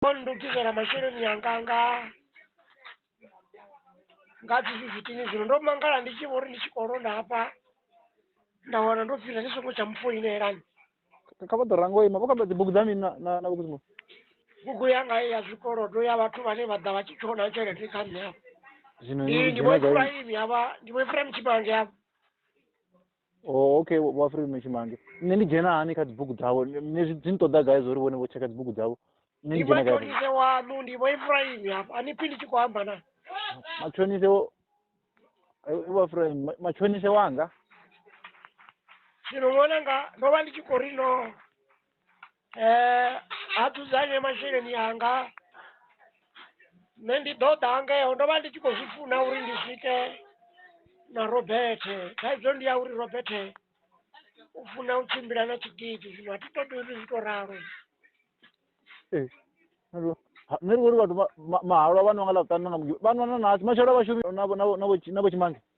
Ko ndopisa na masheleni anga nga nga dzi fifitini zwino ndo mangala ndi tshi vho ri ndi tshi khou londa hafha nda wana ndo pfila ndi songo tsha mufoinelani kha vha ḓo ranga u ima vho kamba dzibugu dza mini na- na na vhukuzimo bugu yanga ya zwikolodo ya vhathu vhane vha ḓa vha tshi tshona tshelede kha nṋe hafha zwino ndi ndi vho dzina gai efuraimi hafha ndi vho efuraimi tshipange hafha o oh, okay wafiri mechimange ne ndi dzhena hani kha dzibugu dzavo ne zwi dzi nṱoḓa gai zwo ri vhone vho tsheka dzibugu dzavo ne ndi dzhena khaise wanu ndi vho ifraimi hafha ani phi ndi tshi khou amba na matshonise wafraimi eh, matshonise wanga zwino ṅwananga ndo vha ndi tshi khou ri no eh, a dzudzanye masheleni anga nṋe ndi ḓo ḓa ngeo ndo vha ndi tshi khou zwi funa uri ndi swike na robethe thaidzo ndi ya uri robethe u funa u tshimbila na tshigidi zwino a thi ṱoḓi uri zwi to ralo ee nṋe ndi vhori vhathu mahalwa vha nwa nga ḽa vhuṱanu nga mugi vha nwana na matshelo a vhashumi na vho tshimange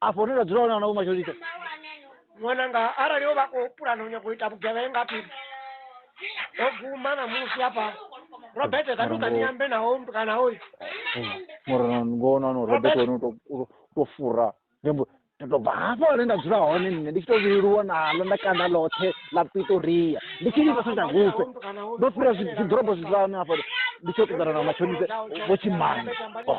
afho ni dzula hone ana vho masholita ṅwananga arali o vha khou pulana u nyaka u ita vhugevhenga phi o guma na musi hafha robert takuka ni ambe naho kana hoyu mara ngona no robert wani to fura nembo ndo bva hafha hone nda dzula hone nṋe ndi tshi to vhililuwa nalo nda kanda ḽoṱhe ḽa pitoria ndi tshi livha sa takufe ndo fhira zwiḓorobo zwi dzula hone hafha ndi tshi yo ṱoḓana na mashonise vho tshimana oh.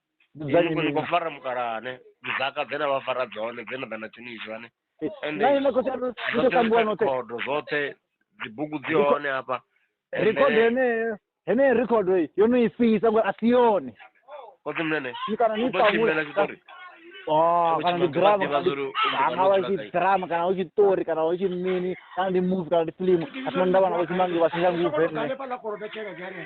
Dzudzanyi ni khou fara mukalane dzaka dzena vha fara dzone dzena ḓa na tshinizwani khodo zwoṱhe dzibugu dzi hone hafha rikhodo yeneyo heneyo rikhodo yo no i fhisa ngori a si yone kote mnene kana ni ṱamula tshitori Oh, kana ndi drama kana ngavha i drama kana hu tshiṱori kana hu tshi mini kana ndi movie kana ndi filimu a sina ndavha na vho tshimangi vha singa nguvhe nṋe